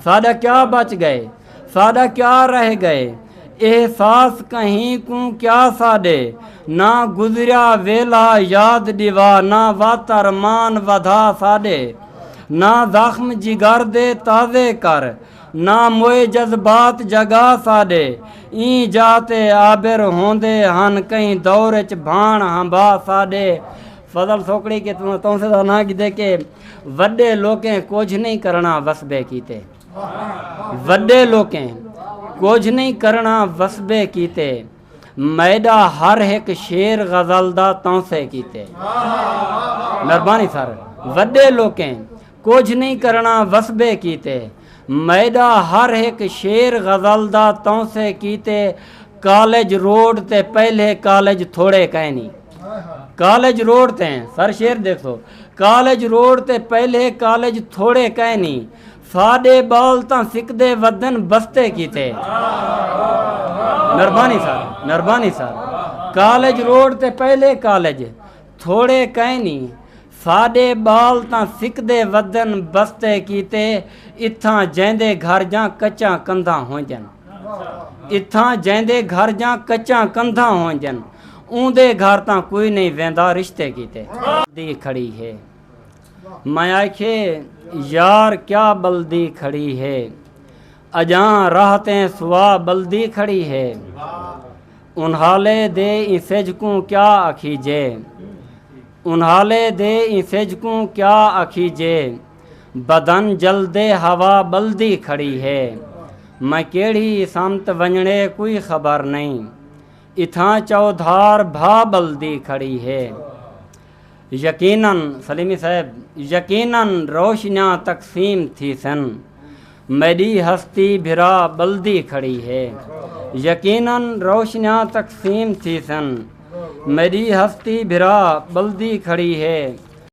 ساݙا کیا بچ ڳئے، ساݙا کیا رہ ڳئے احساس کہیں کوں کیا ساݙے نہ گزریا ویلھا یاد ݙیوا نہ وت ارمان ودھا ساݙے نہ زخم جگر دے تازے کر نہ موئے جذبات جگا ساݙے ایں جاء تے عابر ہوندے ہن کہیں دور اچ بھاݨ ہمبا ساݙے فضل سوکڑی کہ توں سے دا ناں گھدے کہ۔ وڈے لوکیں کجھ نئیں کرنڑاں وسبے کیتے وڈے لوکیں کجھ نئیں کرنڑاں وسبے کیتے میڈا ہر ہک شیر غزل دا تونسے کیتے مہربانی سر وڈے لوکیں کجھ نئیں کرنڑاں وسبے کیتے میڈا ہر ہک شیر غزل دا تونسے کیتے کالج روڈ تے پہلے کالج تھوڑے کائنی کالج روڈ تے سر شیر دیکھو کالج روڈ تے پہلے کالج تھوڑے کائنی ساڈے بال تاں سکدے ودن بستے کیتے Nirbani sir Nirbani sir college road تے پہلے کالج تھوڑے کائنی ساڈے بال تاں سکدے ودن بستے کیتے اتھاں جیندے گھر جاں کچاں کندھاں ہونجن اتھاں جیندے گھر جاں کچاں کندھاں ہونجن اوندے گھر تاں کوئی نئیں ویندا رشتے کیتے دی کھڑی ہے میں آکھیے یار کیا بلدی کھڑی ہے اجاں راہ تے سوا بلدی کھڑی ہے انہالے دے ایں سجھ کوں کیا آکھیجے انہالے دے ایں سجھ کوں کیا آکھیجے بدن جلدے ہوا بلدی کھڑی ہے میں کیڑھی سمت ونجڑے کوئی خبر نئیں اتھاں چودھار بھا ٻلدی کھڑی ہے۔ یقینا سلیمی صاحب یقینا روشنیاں تقسیم تھیسن۔ میݙی ہستی بھرا ٻلدی کھڑی ہے۔ یقینا روشنیاں تقسیم تھیسن۔ میݙی ہستی بھرا ٻلدی کھڑی ہے۔